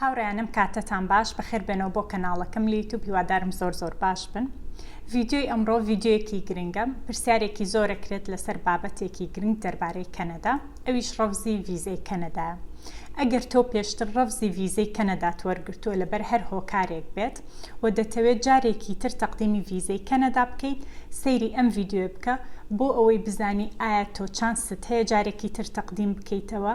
هاوڕێیانم کاتتان باش بەخێر بێنەوە بۆ کەناڵەکەم لە یوتوب هیوادارم زۆر زۆر باش بن ڤیددیۆی ئەمڕۆ ڤیددیۆیەکی گرنگە پرسیارێکی زۆرە کرێت لەسەر بابەتێکی گرنگ دەربارەی کەنەدا ئەویش ڕەفزی ڤیزەی کەنەدا ئەگەر تۆ پێشتر ڕەفزی ڤیزەی کەنەدات وەرگرتووە لەبەر هەر هۆکارێک بێت و دەتەوێت جارێکی تر تەقدیمی ڤیزەی کەنەدا بکەیت سەیری ئەم ڤیددیۆ بکە بۆ ئەوەی بزانی ئایا تۆ چانست هەیە جارێکی تر تەقدیم بکەیتەوە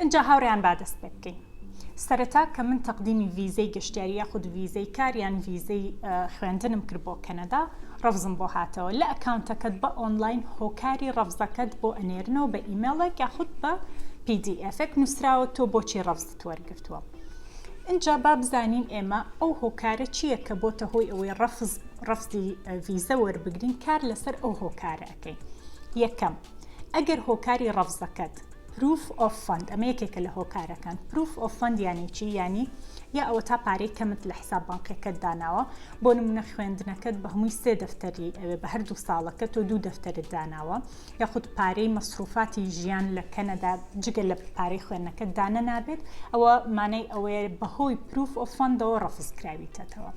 ئینجا هاوڕێیان با دەست پێ بکەین. سەرەتا کە من تەقدیمی ڤیزەی گەشتیاری یاخود ڤیزەی کار یان ڤیزەی خوێندنم کرد بۆ کەنەدا ڕەفزم بۆ هاتەوە لە ئەکاونتەکەت بە ئۆنلاین هۆکاری ڕەفزەکەت بۆ ئەنێرنەوە بە ئیمێڵێک یاخود بە پیدیئێفێک نووسراوە تۆ بۆچی ڕەفزت وەرگرتووە ئینجا با بزانین ئێمە ئەو هۆکارە چییە کە بۆتە هۆی ئەوەی ڕەفز ڕفزی ڤیزە وەربگرین کار لەسەر ئەو هۆکارە ئەەکەین یەکەم ئەگەر هۆکاری ڕەفزەکەت پروف ئۆف فەند ئەمە یەکێکە لە هۆکارەکان پروف ئۆف فەند یانی چی یانی یا ئەوەتا پارەی کەمت لە حساب بانقیەکەت داناوە بۆ نمونە خوێندنەکەت بە هەمووی سێ دەفتەری ئەوێ بە هەردوو ساڵەکە تۆ دوو دەفتەرت داناوە یاخود پارەی مەسروفاتی ژیان لە کەنەدا جگە لە پارەی خوێندنەکەت دانە نابێت ئەوە مانای ئەوەیە بەهۆی پروف ئۆف فەندەوە ڕەفز کراویتەتەوە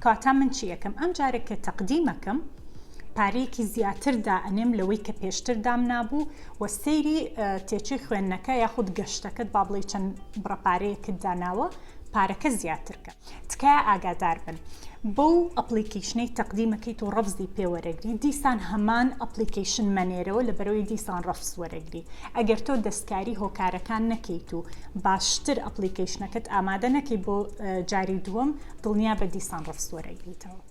کاتا من چی ئەەکەم ئەم جارێک کە تەقدیمەکەم پارەیەکی زیاتر دائەنێم لەوەی کە پێشتر دام نابوو و سەیری تێچووی خوێندنەکە یاخود گەشتەکەت با بڵێ چەند بڕە پارەیەکت داناوە پارەکە زیاترکە تکایە ئاگادار بن بەو ئەپلیکیشنەی تەقدیمەکەیت و ڕەفزی پێوەرەگری دیسان هەمان ئەپلیکیشن مەنێرەوە لە بەرەوەی دیسان ڕەفز وەرەگری ئەگەر تۆ دەستکاری هۆکارەکان نەکەیت و باشتر ئەپلیکیشنەکەت ئامادە نەکەی بۆ جاری دووەم دڵنیا بە دیسان ڕەفز وەرەگریتەوە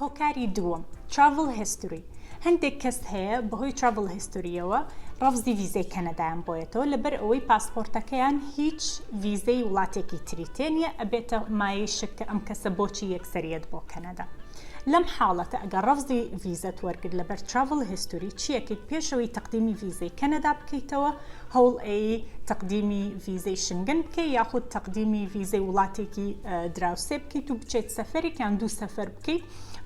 هۆکاری دووەم، Travel History، هەندێک کەس هەیە بەهۆی Travel History یەوە ڕەفزی ڤیزەی کەنەدایان بۆیەتەوە لەبەر ئەوەی پاسپۆرتەکەیان هیچ ڤیزەی وڵاتێکی تری تێ نیە ئەبێتە مایەی شک کە ئەم کەسە بۆچی یەکسەر یەت بۆ کەنەدا لەم حاڵەتە ئەگەر ڕەفزی ڤیزەت وەرگرت لەبەر Travel History چیەکەیت پێشەوەی تەقدیمی ڤیزەی کەنەدا بکەیتەوە هەوڵ ئەیەی تەقدیمی ڤیزەی شنگن بکەی یاخود تەقدیمی ڤیزەی وڵاتێکی دراوسێ بکەیت و بچێت سەفەرێک یان دوو سەفەر بکەیت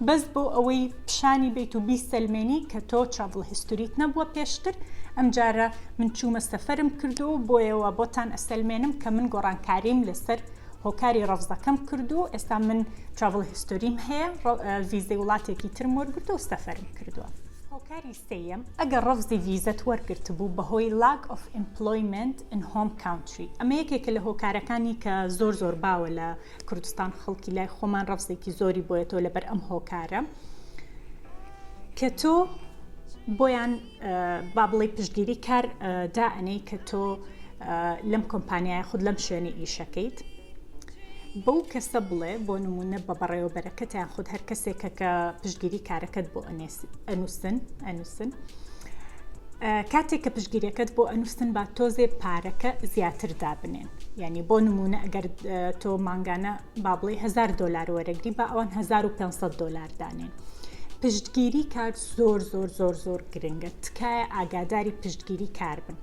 بەس بۆ ئەوەی پیشانی بیت و بیسەلمێنی کە تۆ چاڤڵ هیستوریت نەبووە پێشتر ئەم جارە من چوومە سەفەرم کردو و بۆیەوە بۆتان ئەسەلمێنم کە من گۆڕانکاریم لەسەر هۆکاری ڕەفزەکەم کردو و ئێستا من چاڤڵ هیستوریم هەیە ڤیزەی وڵاتێکی ترم وەرگرتووە و سەفەرم کردووە. سێیەم، ئەگەر ڕەفزی ڤیزەت وەرگرتبوو بەهۆی Lack of Employment in Home Country، ئەمە یەکێکە لە هۆکارەکانی کە زۆر زۆر باوە لە کوردستان خەڵکی لای خۆمان ڕەفزێکی زۆری بۆیەتەوە لەبەر ئەم هۆکارە کە تۆ بۆیان با بڵێ پشتگیری کار دائەنەی کە تۆ لەم کۆمپانیایە خود لەم شوێنە ئیشەکەیت بەو کەسە بڵێ بۆ نمونە بە بەڕێوەبەرەکەتیان خود هەر کەسێکە کە پشگیری کارەکەت بۆ ئەنووسن ئەنووسن کاتێک کە پشگیرەکەت بۆ ئەنووسن با تۆزێ پارەکە زیاتر دابنێن یعنی بۆ نمونە ئەگەر تۆ مانگانە با بڵێ هزار دلار وەرەگری با ئەوان 1500 دلار دانێن پشتگیری کار زۆر زۆر زۆر زۆر گرنگە تکایە ئاگاداری پشتگیری کار بن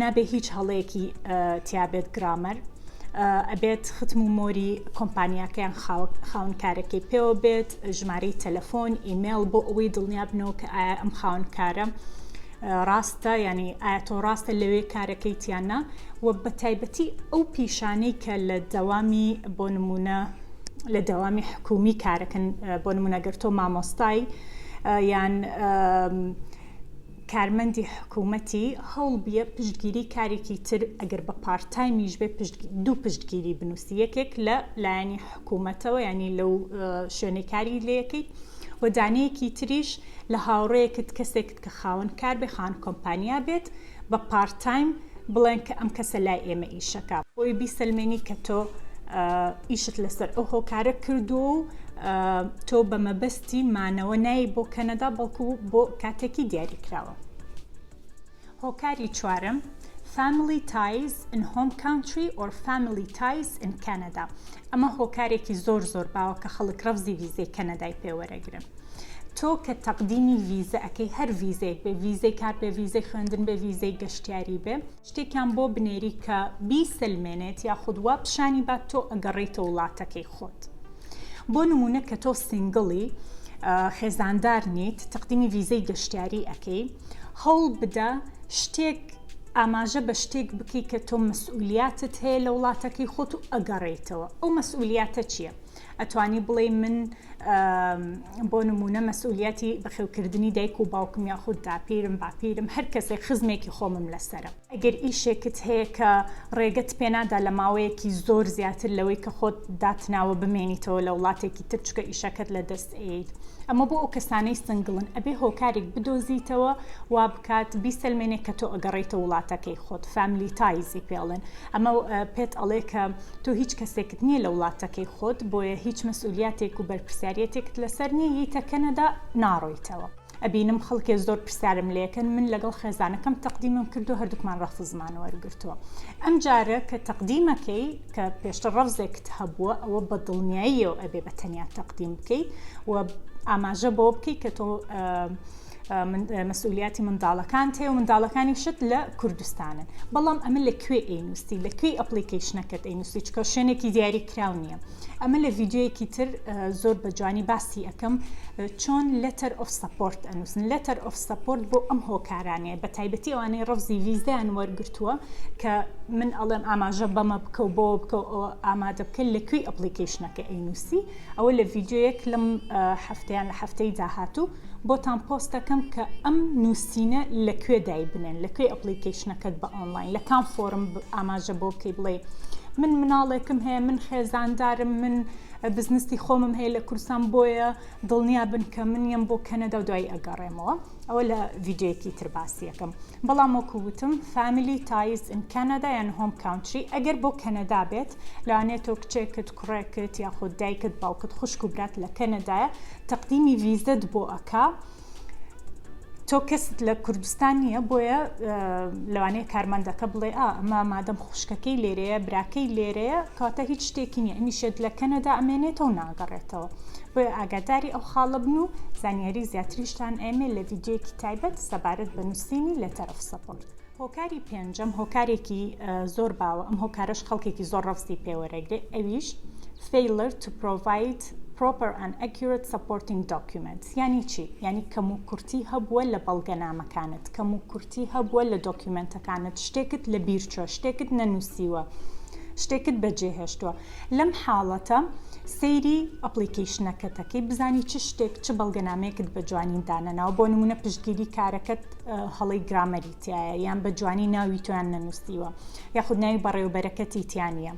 نابێ هیچ هەڵەیەکی تیابێت گرامەر ئەبێت ختم و مۆری کۆمپانیاکەیان خاونکارەکەی پێوە بێت ژمارەی تەلەفۆن ئیممەل بۆ ئەوەی دڵنیا بنەوە کە ئایا ئەم خاونکارە ڕاستە ینی ئایا تۆ ڕاستە لەوێ کارەکەی تیانە و بە تایبەتی ئەو پیشانەی کە لە دەوامی بۆ نمونە لە دەوامی حکومی کارەکەن بۆ نمونەگەر تۆ مامۆستای یان کارمەندی حکومەتی هەوڵ بیە پشتگیری کارێکی تر ئەگەر بە پارت تایمیش بێ دوو پشتگیری بنوسی یەکێک لە لایەنی حکومەتەوە یعنی لەو شوێنەی کاری لەکەیت و دانەیەکی تریش لە هاوڕەیەکت کەسێکت کە خاوەن کار بێ خان کۆمپانیا بێت بە پارت تایم بڵێن کە ئەم کەسە لای ئێمە ئیشەکە بۆی بیسەلمێنی کە تۆ ئیشت لەسەر ئەو هۆکارە کردو و تۆ بە مەبەستی مانەوە نایی بۆ کەنەدا بەڵکو بۆ کاتێکی دیاری کراوە هۆکاری چوارم Family Ties in Home Country or Family Ties in Canada ئەمە هۆکارێکی زۆر زۆر باوە کە خەڵک ڕەفزی ویزەی کەنەدای پێوەرەگرن تۆ کە تەقدیمی ڤیزە ئەکەی هەر ڤیزەیەک بێ ڤیزەی کار بێ ڤیزەی خوێندن بێ ڤیزەی گەشتیاری بێ شتێکیان بۆ بنێری کە بیسەلمێنێت یاخود وا پیشانی بات تۆ ئەگەڕێیتە وڵاتەکەی خۆت بۆ نمونە کە تۆ سینگڵی خێزاندار نیت تەقدیمی ڤیزەی گەشتیاری ئەەکەی هەوڵ بدە شتێک ئاماژە بە شتێک بکەیت کە تۆ مەسئولیاتت هەیە لە وڵاتەکەی خۆت و ئەگەڕێیتەوە ئەو مەسئولیاتە چییە؟ ئەتوانی بڵێی من بۆ نمونە مەسئولیەتی بەخێوکردنی دایک و باوکم یاخود داپیرم باپیرم هەر کەسێک خزمێکی خۆمم لەسەرە ئەگەر ئیشێکت هەیە کە ڕێگەت پێنادا لە ماوەیەکی زۆر زیاتر لەوەی کە خۆت داتناوە بمێنیتەوە لە وڵاتێکی تر چکە ئیشەکەت لە دەست ئەیت ئەمە بۆ ئەو کەسانەی سنگڵن ئەبێ هۆکارێک بدۆزیتەوە وا بکات بیسەلمێنێ کە تۆ ئەگەڕێیتە وڵاتەکەی خۆت فامیلی تایزی پێڵێن ئەمە پێت ئەڵێ کە تۆ هیچ کەسێکت نییە لە وڵاتەکەی خۆت بۆیە هیچ مەسئولیاتێک و بەرپرسیاریەتێکت لەسەر نییە یتە کەنەدا ناڕۆیتەوە ئەبینم خەڵکێ زۆر پرسیارم لەکەن من لەگەڵ خێزانەکەم تەقدیمم کردو هەردووکمان ڕەفزمان وەرگرتووە ئەم جارە کە تەقدیمەکەی کە پێشتر ڕەفزێکت هەبووە ئەوە بە دڵنیاییەوە ئەبێ بە تەنیا تەقدیم بکەی و ئاماژە بەوە بکەی کە تۆ مەسئولیاتی منداڵەکانت هەیە و منداڵەکانیشت لە کوردستانن بەڵام ئەمە لە کوێ ئەینوستی لە کوێی ئەپلیکیشنەکەت ئەینوستی چکە شوێنێکی دیاری کراو نییە ئەمە لە ڤیددیوەکی تر زۆر بە جوانی باسی ئەەکەم چۆن لەتەر ئۆف سپۆرت ئەنووسن لەتەر ئۆف سپۆرت بۆ ئەم هۆکارانەیە بە تایبەتی ئەوانەی ڕفزی ویزدان وەرگتووە کە من ئەڵێم ئاماژە بەمە بکە و بۆ بکە ئامادە بکە لە کوێی ئەپلیکیشنەکە ئەینوسی ئەوە لە ڤیددیوەک لەم هەفتیان لە هەفتەی داهاتوو بۆتان پۆست دەکەم کە ئەم نووسینە لە کوێ دایبنێن لە کوێ ئەپلیکەیشنەکەت بە ئۆنلاین لە کام فۆرم ئاماژە بۆ بکەی بڵێ من مناڵێکم هەیە من خێزاندارم من بزنستی خۆمم هەیە لە کورسان بۆیە دڵنیا بن کە من یەم بۆ کەنەدا و دوای ئەگەڕێمەوە ئەوە لە ڤیددیوەکی تر باسیەکەم بەڵام وەکووتم فامیلی تایز ئین کەنەدا یان هۆم کاونتری ئەگەر بۆ کەنەدا بێت لەوانێت تۆ کچێکت کوڕێکت یاخود دایکت باوکت خوشک و برات لە کەنەدایە تەقدیمی ڤیزەت بۆ ئەکا تۆ کەست لە کوردستان نییە بۆیە لەوانەیە کارمەندەکە بڵێ ئا ئەمە مادەم خوشکەکەی لێرەیە براکەی لێرەیە کاتە هیچ شتێکی نیە ئەمیشێت لە کەنەدا ئەمێنێتەوە ناگەڕێتەوە بۆیە ئاگاداری ئەو خاڵە بن و زانیاری زیاتریشتان ئەمێ لە ڤیددیوەکی تایبەت سەبارەت بە نووسینی لە تەرەف سەپۆرت. هۆکاری پێنجەم هۆکارێکی زۆر باوە ئەم هۆکارش خەڵکێکی زۆر ڕەفزی پێوەرەگرێ ئەویش failure to provide دەکات. Proper and Accurate Supporting Documents یانی چی؟ یانی کەموکورتی هەبووە لە بەڵگەنامەکانت، کەموکورتی هەبووە لە دۆکیومێنتەکانت، شتێکت لەبیرچووە، شتێکت نەنووسیوە، شتێکت بەجێهێشتووە. لەم حاڵەتە سەیری ئەپڵیکەیشنەکەت دەکەی بزانی چ شتێک، چ بەڵگەنامەیەکت بە جوانی دانەناوە، بۆ نموونە پشتگیری کارەکەت هەڵەی گرامەری. تیایە یان بە جوانی ناوی تۆیان نەنووسیوە یاخود ناوی بەڕێوبەرەکەتی تیا نیە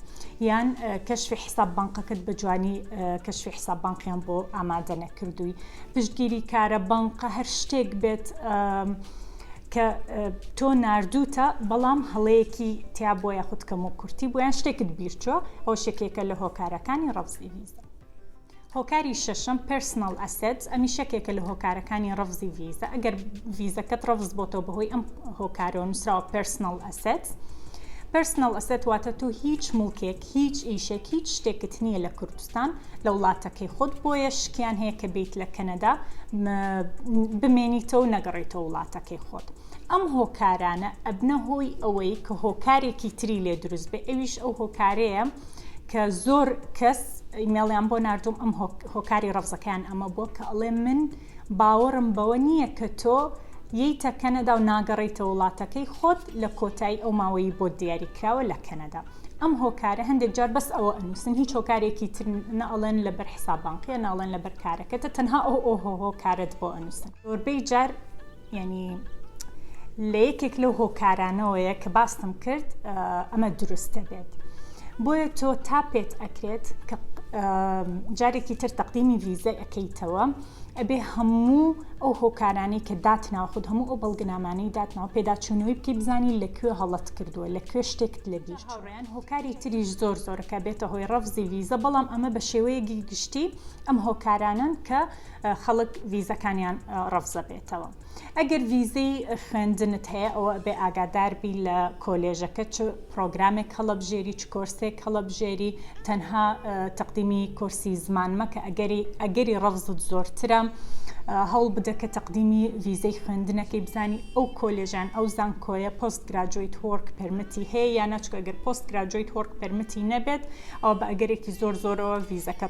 یان کەشفی حساب بانقەکەت بە جوانی کەشفی حساب بانقیان بۆ ئامادە نەکردووی پشتگیری کارە بانقە هەر شتێک بێت کە تۆ نردوتە بەڵام هەڵەیەکی تیا بۆ یاخود کەم و کورتی بۆیان شتێکت بیرچوە ئەو شکێکە لە هۆکارەکانی ڕەفزی ویزە هۆکاری شەشەم Personal Assets ئەمیش یەکێکە لە هۆکارەکانی ڕەفزی ڤیزە ئەگەر ڤیزەکەت ڕەفز بۆتەوە بەهۆی ئەم هۆکارەوە نووسراوە Personal Assets Personal Asset واتە تۆ هیچ مڵکێک هیچ ئیشێک هیچ شتێکت نییە لە کوردستان لە وڵاتەکەی خۆت بۆیە شکیان هەیە کە بیت لە کەنەدا بمێنیتەوە نەگەڕێیتەوە وڵاتەکەی خۆت ئەم هۆکارانە ئەبنە هۆی ئەوەی کە هۆکارێکی تری لێ دروست بێ ئەویش ئەو هۆکارەیە کە زۆر کەس ئیمێڵیان بۆ نردوم ئەم هۆکاری ڕەفزەکەیان ئەمە بووە کە ئەڵێ من باوەڕم بەوە نییە کە تۆ ییتە کەنەدا و ناگەڕیتە وڵاتەکەی خۆت لە کۆتایی ئەو ماوەی بۆ دیاری کراوە لە کەنەدا ئەم هۆکارە هەندێک جار بەس ئەوە ئەنووسن هیچ هۆکارێکی تر نەڵێن لەبەر حسابانقیە ناڵێن لەبەر کارەکەتە تەنها ئەو ئۆهۆ هۆکارت بۆ ئەنووسن زۆربەی جار یانی لە یەکێک لەو هۆکارانەوەیە کە باستم کرد ئەمە دروستە بێت بۆیە تۆ تا پێت ئەکرێت کە جارێکی تر تەقدیمی ویزای ئەەکەیتەوە ئەبێ هەموو ئەو هۆکارانی کە دات ناوخود هەموو ئەو بەڵگەنامانی داتناو پێداچوونەوەی بکەی بزانی لەکوێ هەڵت کردووە لە کوێ شتێکت لە بیر هاوڕیان هۆکاری تریش زۆر زۆرەکە بێتە هۆی ڕەفزی ویزە بەڵام ئەمە بە شێوەیەکی گشتی ئەم هۆکارانن کە خەڵک ڤیزەکانیان ڕەفزە بێتەوە ئەگەر ڤیزەی خوێندنت هەیە ئەوە بێ ئاگاداربی لە کۆلێژەکە چ پرۆگرامێک هەڵەبژێری چ کۆرسێک هەڵەبژێری تەنها تەقدیمی کورسی زمان مەکە ئەگەری ئەگەری ڕەفزت زۆرترە هەوڵ بدە کە تەقدیمی ڤیزەی خوێندنەکەی بزانی ئەو کۆلێژان ئەو زانکۆیە پۆست گراجویت هۆرک پرمتی هەیە یا نەچکە گەر پۆست گراجویت هۆرک پرمتی نەبێت ئەو بە ئەگەرێکی زۆر زۆرەوە ڤیزەکە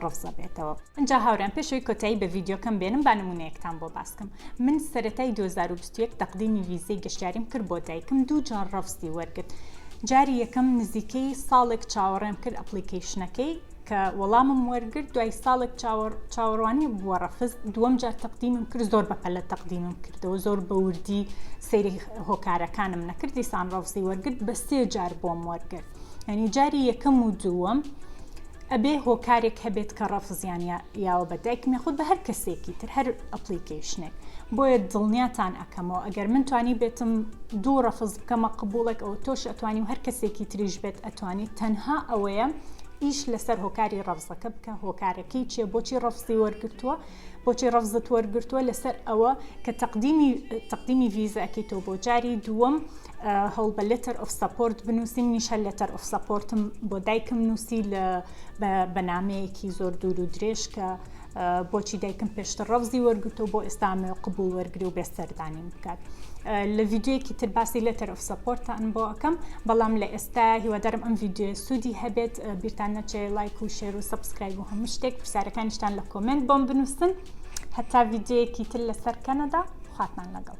ڕفزە بێتەوە ئەجا هاوران پێشەوەی کۆتایی بە ڤیددیوکەم بێنم با نمونەیەکتان بۆ باسکەم من سەتای 2021 تەقدیمی ویزەی گەشتیاریم کرد بۆ دایکم دوو جار ڕفزی وەرگرت جاری یەکەم نزیکەی ساڵێک چاوەڕێم کرد ئەپلیکیشنەکەی کە وەڵامم وەرگرت دوای ساڵێک چاوەڕوانی بووە ڕەفز دووەم جار تەقدیمم کرد زۆر بەپەلە تەقدیمم کردەوە زۆر بەوردی سەیری هۆکارەکانم نەکردی سان ڕفزی وەرگرت بە سێ جار بۆم وەرگرت یعنی جاری یەکەم و دووەم ئەبێ هۆکارێک هەبێت کە ڕەفزیان یاوە بە دایکم یاخود بە هەر کەسێکی تر هەر ئەپلیکیشنێک بۆیە دڵنیاتان ئەەکەمەوە ئەگەر من توانی بێتم دوو ڕەفز بکەمە قبولێک ئەو تۆش ئەتوانی و هەر کەسێکی تریش بێت ئەتوانی تەنها ئەوەیە ئیش لەسەر هۆکاری ڕەفزەکە بکە هۆکارەکەی چیە بۆچی ڕەفزی وەرگتووە بۆچی ڕەفزت وەرگتووە لەسەر ئەوە کە تەقدیمی تەقدیمی ڤیزەکەی تۆ بۆ جاری دووەم هەوڵ بە لێتەر ئۆف سەپۆرت بنووسی منیش هەر لێتەر ئۆف سەپۆرتم بۆ دایکم نووسی لە بەنامەیەکی زۆر دوور و درێژ کە بۆچی دایکم پێشتر ڕەوزی وەرگتو بۆ ئێستامێ و قبول وەرگری و بێ سەردانی بکات. لە ڤیددیوەکی تر باسی لێتەر ئۆف سەپۆرتان بۆ ئەەکەم بەڵام لە ئێستا هیوادارم ئەم ڤیددیو سوودی هەبێت بیرتان نەچێ لایک و شێر و سبسکرایب و هەموو شتێک پرسیارەکانیشتان لە کۆمنت بۆم بنووسن هەتا ڤیددیوەکی تر لەسەر کەنەدا خواتان لەگەڵ.